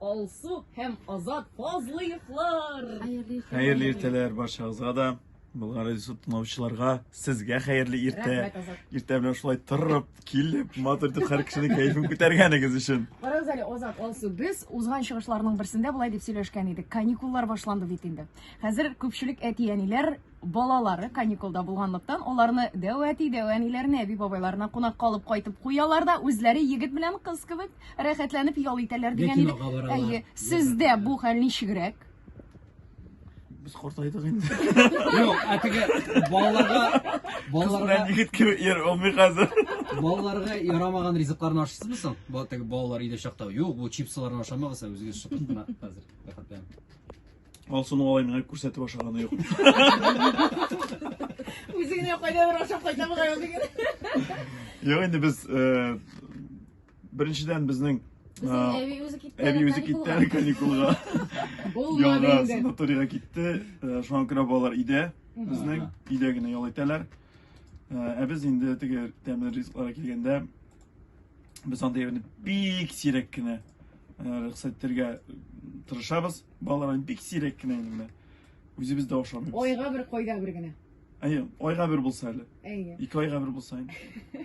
Алсу һәм Азат Фазлыевлар! Хәерле иртәләр барчагызга да, Болгар радиосы тыңлаучыларга, сезгә хәерле иртә. Иртә белән шулай торып, килеп, матур итеп һәр кешенең кәефен күтәргәнегез өчен. Барабыз әле Азат Алсу. Без узган чыгышларның берсендә болай дип сөйләшкән идек. Каникуллар башланды бит инде. Хәзер күпчелек әти-әниләр Балалары каникулда булганлыктан, аларны дәү әти, дәү әниләренә, әби-бабайларына кунакка алып кайтып куялар да, үзләре егет белән кыз кебек рәхәтләнеп ял итәләр Я дигән иде. кинога баралар. Әйе, сездә бу хәл ничегрәк? Без картайдык инде. Юк, ә теге балаларга балаларга Егет кебек йөр, ул мин хәзер. балаларга ярамаган ризыкларны ашыйсызмы соң? Бу теге балалар өйдә чакта. Юк, бу чипсыларны ашамагыз, ә үзегез шыпырт кына хәзер. Рәхәтләнеп. Алсуның алай миңа күрсәтеп ашаганы юк. Үзе генә кайда бер ашап кайта бугай ул дигән. Юк, инде без э, беренчедән безнең э, Әби үзе китте. әби әле үзе китте әле каникулга. Ул Ялга мадә инде. санаторийга китте. Э, Шуңа күрә балалар өйдә безнең өйдә генә ял итәләр. Э, Ә без инде теге тәмле ризыкларга килгәндә без андый әйберне бик сирәк кенә э, рөхсәт итәргә тырышабыз. Балалар бик сирәк кенә инде менә. Үзебез дә ашамыйбыз. Айга бер, койда бер генә. Әйе, айга бер булса әле. Әйе. Ике айга бер булса инде.